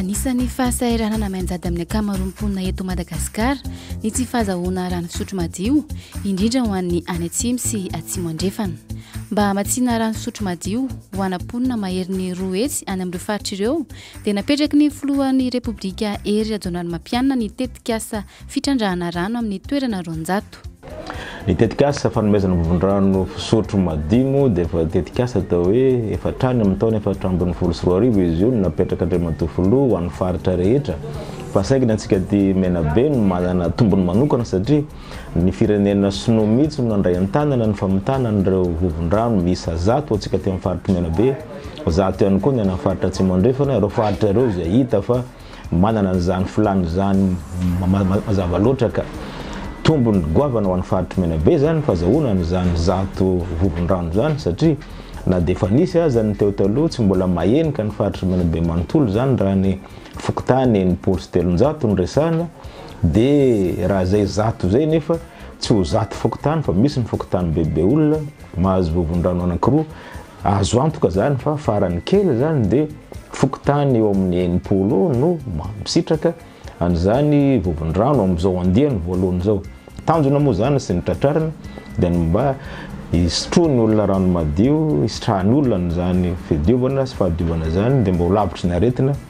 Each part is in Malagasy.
Anisan'ny fahasahiranana mianjady amin'ny ankamaroan'ny mponina eto Madagasikara ny tsy fahazahoana rano fisotro madio, indrindra ho an'ny any Atsimo sy Atsimo Andrefana. Mba hamatsiana rano fisotro madio ho ana mponina maherin'ny roa hetsy any amin'ireo faritra ireo dia napetraky ny filohan'ny Repoblika Hery Rajaonarimampianina ny tetikasa fitrandrahana rano amin'ny toerana roanjato. Ny tetikasa fanomezana vovon-drano fisotro madio moa dia efa tetikasa atao hoe efa hatrany amin'ny taona efatra ambin'ny folo sy roa arivo izy io no napetrak'Andriamatoa Filoha ho an'ny faritra rehetra fa saingy ny antsika aty Menabe no manana tombony manokana satria Ny firenena sinoa mihitsy no nandray an-tanana ny famitana an'ireo vovon-drano miisa zato antsika teo amin'ny faritr'i Menabe, zato ihany koa ny any amin'ny faritra Atsimo Andrefana, ireo faritra ireo izay hita fa manana an'izany filàna izany mazava loatra ka. Tombony goavana ho an'ny faritr'i Menabe izany fazahoana an'izany zato vovon-drano izany satria na dia efa nisy aza ny teo taloha tsy mbola mahenika ny faritr'i Menabe manontolo izany raha ny fokontany enimpolo sy telonjato no resahina, de raha zay zato zay nefa tsy ho zato fokontany fa misy ny fokontany bebe olona mahazo vovondrano anankiroa azo antoka zany fa farany kely zany de fokontany eo amin'ny enimpolo no mamisitraka an'izany vovondrano amin'izao andiany voalohany zao tanjona moa zany sy ny tratrarina de ny mba hisotroany olona rano madio hisitrahan'olona an'izany fidiovana sy fahadiovana zany de mba ho lavitry ny aretina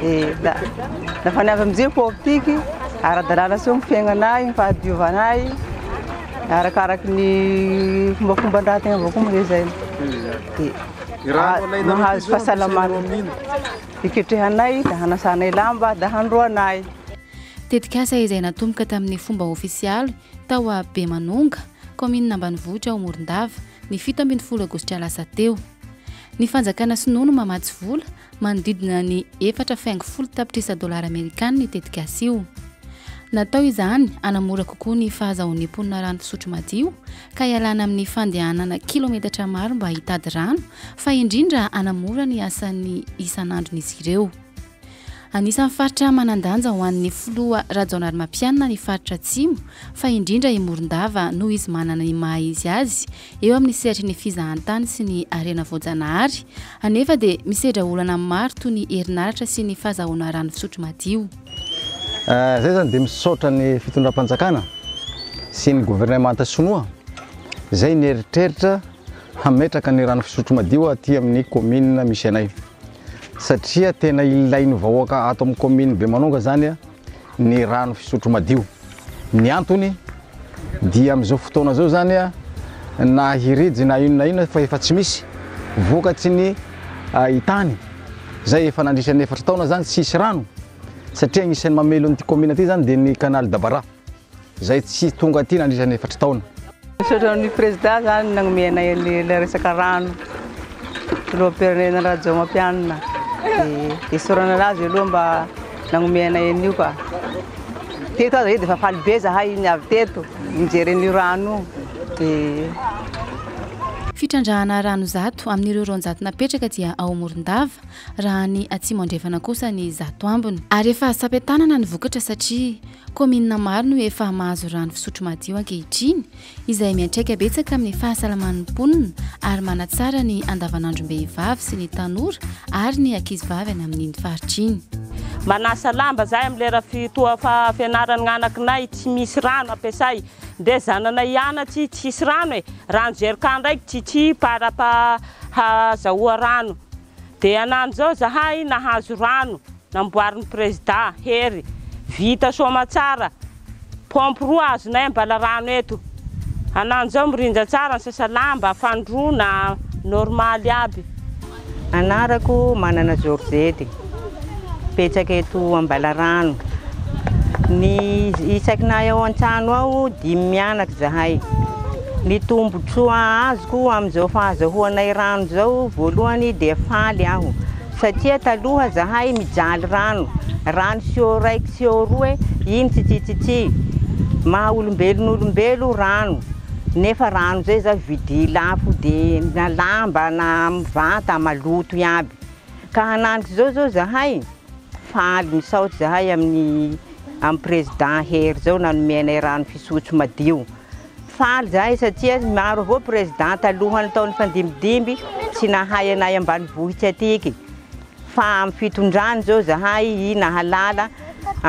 Dia nafa ny avy amin'ny jefo optique, ara-dalàna sy eo ny fiaignana ahy, ny fahadiovana ahy, arakaraky ny fombafomban-draha tegna avao koa nohezaina. Dia mahazo fahasalamana, iketrehanay, dia hanasanay lamba, dia handroanay. Tetikasa izay natomboka tamin'ny fomba ofisialy tao a Bemanonga, kaominina ambanivohitra ao Morondava, ny fito ambin'ny folo aogositra lasa teo. Ny fanjakana sinoa no mamatsy vola Manodidina ny efatra fy ango folo tapitrisa dolara amerikana io tetikasa io. Natao izany hanamora kokoa ny fahazahoan'ny mponina rano fisotro madio ka hialana amin'ny fandehanana kilometatra maro mba hitady rano fa indrindra hanamora ny asan'ny isan'andron'izy ireo. Anisan'ny faritra manan-danja ho an'ny filoha Rajaonarimampianina ny faritra Atsimo fa indrindra i Morondava noho izy manana ny maha izy azy eo amin'ny sehatry ny fizahantany sy ny harena voajanahary, anefa dia misedra olana maro toy ny herinaratra sy ny fahazahoana rano fisotro madio. Izay izany dia misaotra ny fitondram-panjakana sy ny governemanta sinoa izay nieritreritra hametraka ny rano fisotro madio aty amin'ny kaominina misy anay satria tena ilain'ny vahoaka ato amin'ny kaominina Bemanonga izany. ny rano fisotro madio. Ny antony dia amin'izao fotoana izao izany na hirijy na inona na inona fa efa tsy misy vokatry ny tany izay efa nandritra ny efatra taona izany tsy hisy rano satria agnisan'ny mamelona ity kaominina ity izany dia ny canal Dabara. izay tsy tonga aty nandritra ny efatra taona. Misaotra an'i Prezidà izany nagnomey anay ilay resaka rano, Filoham-pirenena Rajaomampianina, dia isaorana anazy aloha mba nagnomey anay an'io ka. Teto aza io dia efa faly be izahay ny avy teto, nijery an'io rano io. Fitrandrahana rano zato amin'ireo roanjato napetraka dia ao Morondava, raha any Atsimo Andrefana kosa ny zato ambiny. Ary efa sampe-tanana ny vokatra satria Kaominina maro no efa mahazo rano fisotro madio ankehitriny, izay miantraika betsaka amin'ny fahasalaman'ny mponina ary manatsara ny andavanandrom-behivavy sy ny tanora ary ny ankizivavy any amin'iny faritra iny. Manasa lamba izahay amin'ny lera fitoha fianarany ny anakinay tsy misy rano ampiasay dia zananay hianatsy tsisy rano e! rano jerika ndraiky tsitsy para pa hazahoa rano. Dia anano zao zahay nahazo rano namboarin'i prezida Hery vita soamatsara pompe roa azonay ambala rano eto. Anano zao mirindra tsara ny sasalamba, fandroana, normal aby. Anarako Manana Georgette, mipetraka eto Ambalarano. Ny isakinay ao an-trano ao dimy mianaka izahay. Ny tombontsoa azoko amin'izao fahazahoanay rano izao voalohany dia faly aho satria taloha zahay mijaly rano, rano siô raiky siô roe iny tsitsitsitsy, maha olombelon'olombelo rano nefa rano izay zao vidia lafo dia na lamba na vata maloto iaby ka hananitra izao zao zahay faly misaotra zahay amin'ny amin'ny président Hery zao nanome anay rano fisotro madio. Faly zahay satria maro avao président taloha ny taon'ny fandimidimby tsy nahay anay ambanivohitra atiky fa amin'ny fitondrany zao zahay i nahalala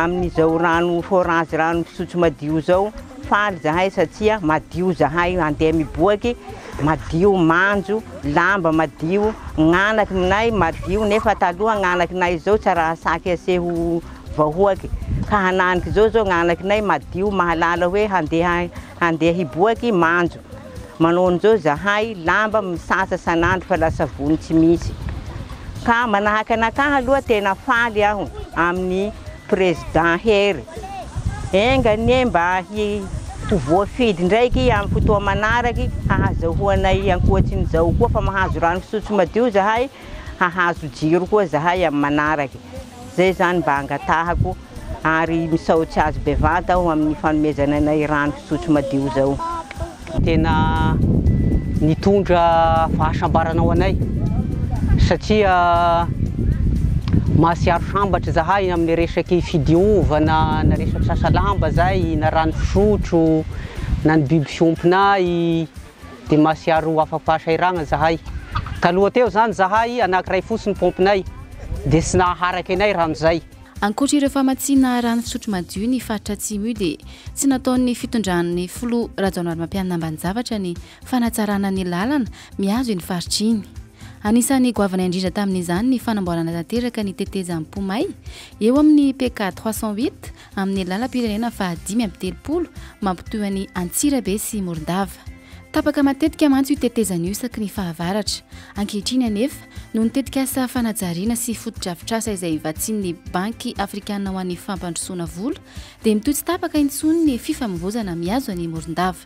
amin'izao rano forage rano fisotro madio zao faly zahay satria madio zahay mandeha miboaky madio manjo lamba madio gnanakinay madio nefa taloha gnanakinay zao tsaraha saky aseho vahoaky ka hananika zao zao gnanakinay madio mahalala hoe handeha handeha hiboaky manjo manao anizao zahay lamba misasa sanandro fa la savony tsy misy ka manahaka anakahy aloha tena faly aho aminy président hery enga anie mba hi ho voafidy ndraiky amy fotoa manaraky hahazahoanay ankoatsinizao koa fa mahazo rano fisotro madio zahay hahazo jiro koa zahay amy manaraky. Zay zany mba angatahako ary misaotsy azy bevanta aho amin'ny fanomezany anay rano fisotro madio zao. Tena nitondra fahasambarana ho anay satria mahatsiaro sambatra zahay amin'ny resaky fidiovana na resaky sasa lamba zay na rano fisotro na ny biby fiompinay dia masiaro ho afa-pahasahiragna zahay. Taloha teo zany zahay anankiray fotsiny paompinay dia tsy nahaharaka anay rano zay. Ankoatra ireo famatsiana rano fisotro madio ny faritra Atsimo io dia tsy nataon'ny fitondran'ny filoha Rajaonarimampianina ambanin-javatra ny fanatsarana ny lalana mihazo iny faritra iny. Anisan'ny goavana indrindra tamin'izany ny fanamboarana tanteraka ny tetezam-po may eo amin'ny PK trois cent huit amin'ny lalam-pirenena fahadimy amby telopolo mampitohy an'i Antsirabe sy Morondava. Tapaka matetika mantsy io tetezana io isaky ny fahavaratra. Ankehitriny anefa, noho ny tetikasa fanajariana sy fotodrafitrasa izay vatsian'ny Banky afrikanina ho an'ny fampandrosoana vola, dia mitohy tsy tapaka intsony ny fifamovoizana mihazo an'i Morondava.